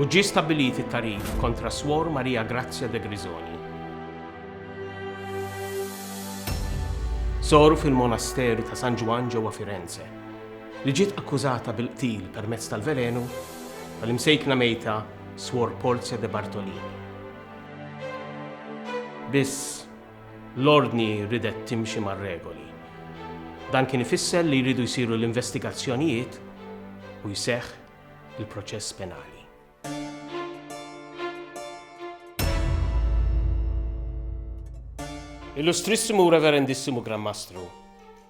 U ġie stabbilit it-tagħrif kontra Swor Maria Grazia De Grisoni. Sor fil-Monasteru ta' San Ġwann ġewwa Firenze, li ġiet akkużata bil-qtil permezz tal-velenu tal-imsejkna mejta Swor Porzja De Bartolini. Biss, l-Ordni ridet timxi mar-regoli. Dan kien ifisser li jridu jsiru l-investigazzjonijiet u jseħħ il-proċess penali. Illustrissimu Reverendissimu Gran Mastru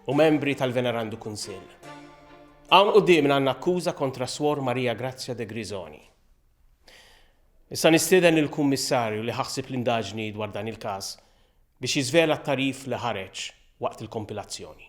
u membri tal-Venerandu Kunsill. Hawn quddiem għandna akkuża kontra Swor Maria Grazia de Grisoni. Issa nistieden il-Kummissarju li ħaħsib l-indaġni dwar dan il-każ biex jiżvela t-tarif li ħareġ waqt il-kompilazzjoni.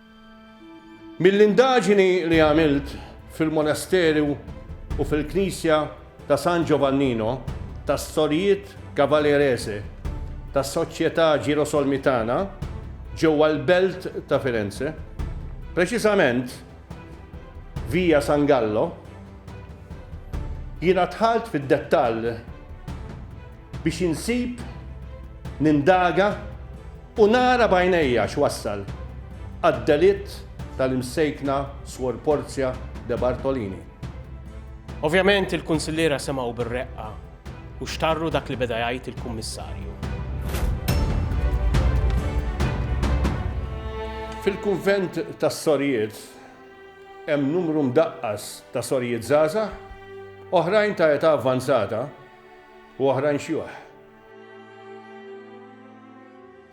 Mill-indaġini li għamilt fil-monasteru u fil-knisja ta' San Giovannino tas-Sorijiet Cavalerese tas-Soċjetà Ġirosolmitana ġewwa l-belt ta' Firenze, preċiżament Via San Gallo, jiena dħalt fid-dettall biex insib, nindaga, U nara b'għajnejja x'wassal għad-delitt tal-Imsejkna Swor Porzja De Bartolini. Ovvjament il-Kunsilliera semgħu bir-reqqa u xtarru dak li beda jgħid il-Kummissarju. Fil-Kunvent tas-Sorijiet hemm numru mdaqqas ta' sorijiet żgħażagħ, oħrajn ta' età avvanzata u oħrajn xjuħ.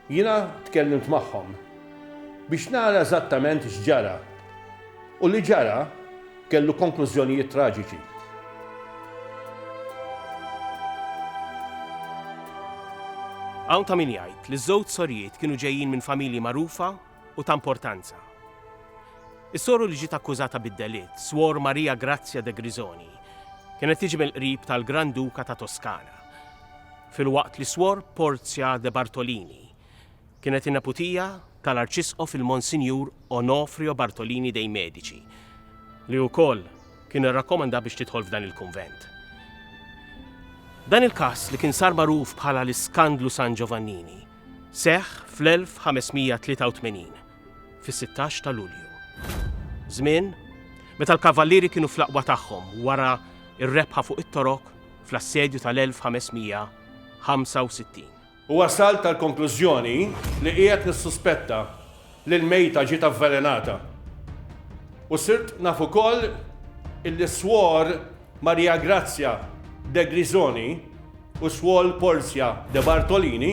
Jiena tkellimt magħhom biex nara eżattament x'ġara u li ġara kellu konklużjonijiet traġiċi. Hawn ta' min jgħid li ż-żewġ sorijiet kienu ġejjin minn familji magħrufa u ta' importanza. Is-soru li ġiet akkużata bid-delitt, Swor Maria Grazia de Grisoni, kienet tiġi mill-qrib tal-Gran Duka ta' Toskana. filwaqt li Swor Porzja de Bartolini kienet in-neputija tal-Arċisqof il-Monsinjur Onofrio Bartolini dei Medici, li wkoll kien irrakkomanda biex tidħol f'dan il-kunvent. Dan il-każ li kien sar magħruf bħala l-Iskandlu San Giovannini seħħ fl-1583, fis-16 ta' Lulju. Żmien meta l-Kavallieri kienu fl-aqwa tagħhom wara r-rebħa fuq it-Torok fl-assedju tal-1565. U wasalt għall-konklużjoni li qiegħed nissuspetta li l-mejta ġiet avvelenata. U sirt naf ukoll illi Swor Maria Grazia Degrisoni u Swol Porzia De Bartolini,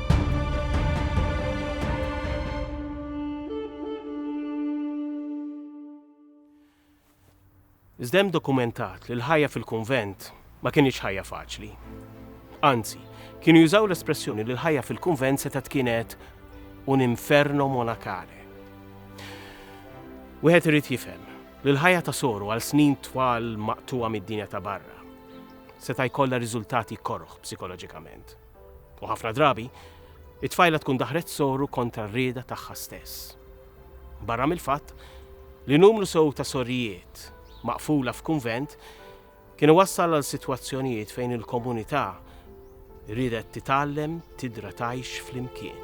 Iżda hemm dokumentat li l-ħajja fil-kunvent ma kinitx ħajja faċli. Anzi, kienu jużaw l-espressjoni li l-ħajja fil-kunvent setgħet kienet un inferno monakale. Wieħed irid jifhem li l-ħajja ta' soru għal snin twal maqtuwa mid-dinja ta' barra seta' jkollha riżultati koroħ psikoloġikament. U ħafna drabi, it-tfajla tkun daħret soru kontra r-rieda tagħha stess. Barra mill-fatt li numru sew ta' sorijiet maqfula f'kunvent kien iwassal għal sitwazzjonijiet fejn il-komunità riedet titgħallem tidra tgħix flimkien.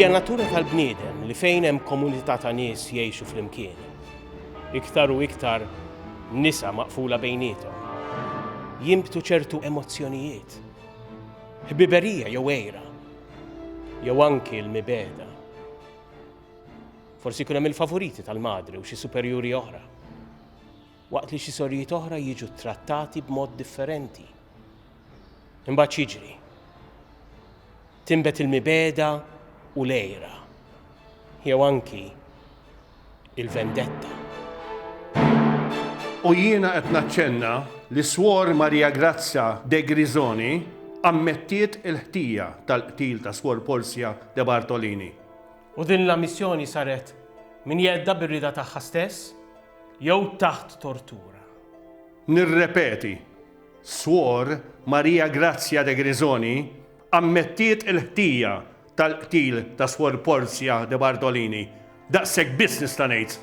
Hija natura tal-bniedem li fejn hemm komunità ta' nies jgħixu flimkien. Iktar u iktar nisa maqfula bejnietom. Jimbtu ċertu emozzjonijiet. Ħbiberija jew ejra. Jew anki l-mibeda. Forsi jkun hemm il-favoriti tal-madre u xi superjuri oħra. Waqt li xi sorijiet oħra jiġu ttrattati b'mod differenti. Imbagħad jiġri. Timbet il-mibeda u lejra. Jew anki il-vendetta. U jiena qed naċċenna li Swor Maria Grazia De Grisoni ammettiet il-ħtija tal-qtil ta' Swor Portia De Bartolini. U din l-ammissjoni saret minn jeddha bir-rieda tagħha stess jew taħt tortura. Nirrepeti, Swor Maria Grazia De Grisoni ammettiet il-ħtija tal-qtil ta' Swor Porzia De Bartolini, daqshekk biss nista' ngħid.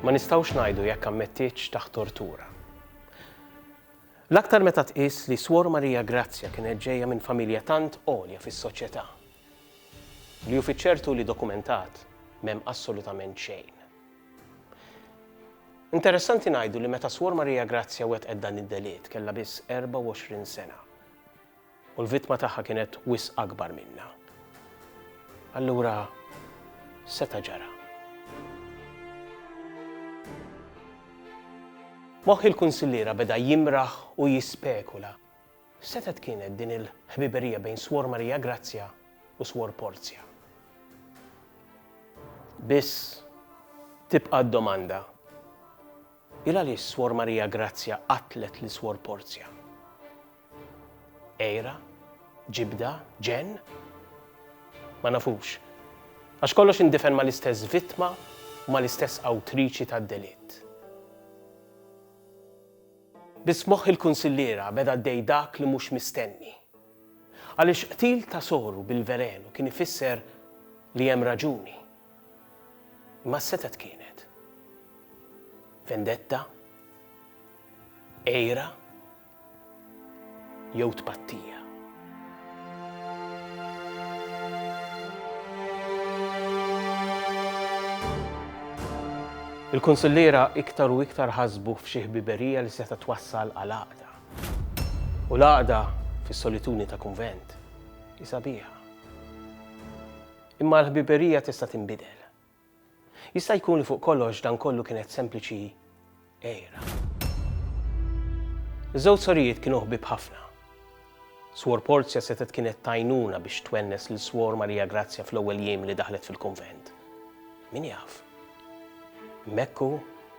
Ma nistgħux ngħidu jekk ammettietx taħt tortura. L-aktar meta tqis li Swor Maria Grazja kienet ġejja minn familja tant għolja fis-soċjetà. Li hu fiċ-ċertu li dokumentat m'hemm assolutament xejn. Interessanti ngħidu li meta Swor Maria Grazia wettqet dan id-delitt kellha biss 24 sena u l-vittma tagħha kienet wisq akbar minnha. Allura seta' ġara. Moħħ il-Kunsilliera beda jimraħ u jispekula. Setgħet kienet din il-ħbiberija bejn Swor Maria Grazia u Swor Porzia? Biss tibqa' d-domanda, il-għaliex Swor Maria Grazia qatlet lil Swor Porzia? Għira? Ġibda? Ġenn? Ma nafux. Għax kollox indifen mal-istess vittma u mal-istess awtriċi tad-delitt. Bi smuħ il-kunsilliera beda għaddej dak li mhux mistenni. Għaliex qtil ta' soru bil-velenu kien ifisser li hemm raġuni. Imma x'setgħet kienet? Vendetta? Għira? jew tpattija. Il-kunsilliera iktar u iktar ħasbu f'xi ħbiberija li seta' twassal għal għaqda. U l-għaqda fis-solituni ta' kunvent hi sabiħa. Imma l-ħbiberija tista' tinbidel. Jista' jkun li fuq kollox dan kollu kienet sempliċi għira. Iż-żewġ sorijiet kienu ħbieb ħafna. Swor Porzja setgħet kienet t'għajnuna biex twennes lil Swor Marija Grazzja fl-ewwel jiem li daħlet fil-kunvent. Min jaf? Mekku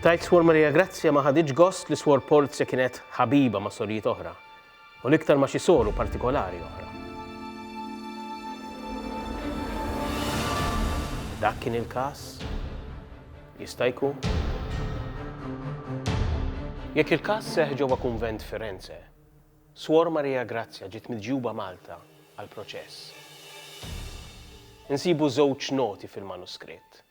Tgħid Suor Maria Grazja ma ħaditx gost li Suor Polzia kienet ħabiba ma' sorijiet oħra, u l-iktar ma' xi soru partikolari oħra. Dak kien il-każ? Jista' jkun. Jekk il-każ seħħ ġewwa kunvent Firenze, Suor Maria Grazja ġiet miġjuba Malta għall-proċess. Insibu żewġ noti fil-manuskritt.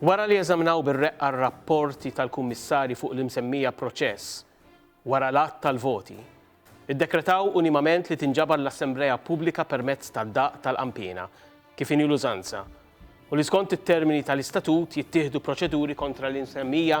Wara li eżaminaw bir-reqqa r-rapporti tal-Kummissarji fuq l-imsemmija proċess, wara l-għadd tal-voti, iddekretaw unimament li tinġabar l-assemblea pubblika permezz tad-daqq tal-qanpiena, kif inhi l-użanza, u li skont it-termini tal-Istatut jittieħdu proċeduri kontra l-imsemmija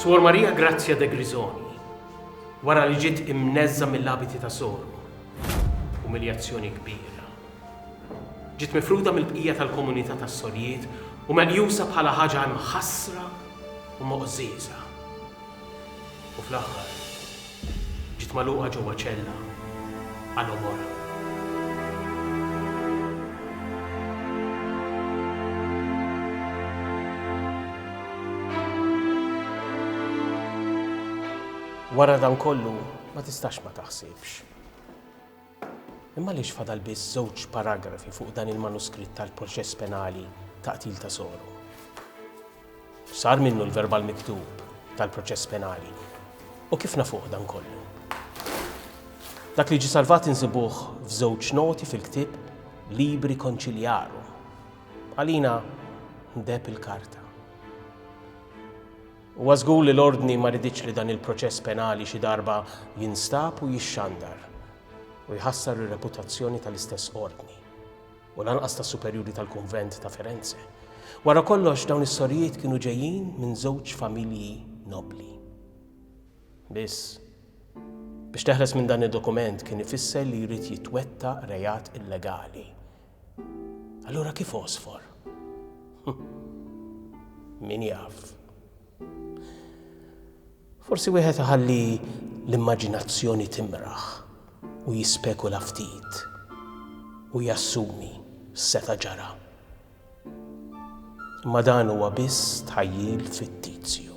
Suor Maria Grazia de Grisoni, wara li ġiet imneżża mill-abiti ta' sormu, umiljazzjoni kbira. Ġiet mifruda mill-bqija tal-komunità tas-sorjiet u meqjusa bħala ħaġa imħassra u moqżieża. u fl-aħħar ġiet magħluqa ġewwa ċella għal għomorha. Wara dan kollu ma tistax ma taħsibx. Imma għaliex fadal biss żewġ paragrafi fuq dan il-manuskritt tal-proċess penali ta' qtil ta' Sogħlu? Sar minnu l-verbal miktub tal-proċess penali. U kif nafuh dan kollu? Dak li ġi salvat insibuh f'żewġ noti fil-ktieb Libri Conciliarum. Għalina ndeb il-karta. Huwa żgur li l-Ordni ma riditx li dan il-proċess penali xi darba jinstab u jixxandar u jħassar ir-reputazzjoni tal-istess Ordni, u lanqas tas-Superjuri tal-Kunvent ta' Firenze. Wara kollox dawn is-sorijiet kienu ġejjin minn żewġ familji nobbli. Biss, biex teħles minn dan id-dokument kien ifisser li jrid jitwettaq reat illegali, Allura kif għosfor? Min jaf. Forsi wieħed iħalli l-immaġinazzjoni timraħ u jispekula ftit u jassumi seta ġara. Imma dan huwa biss tħajjil fittizju.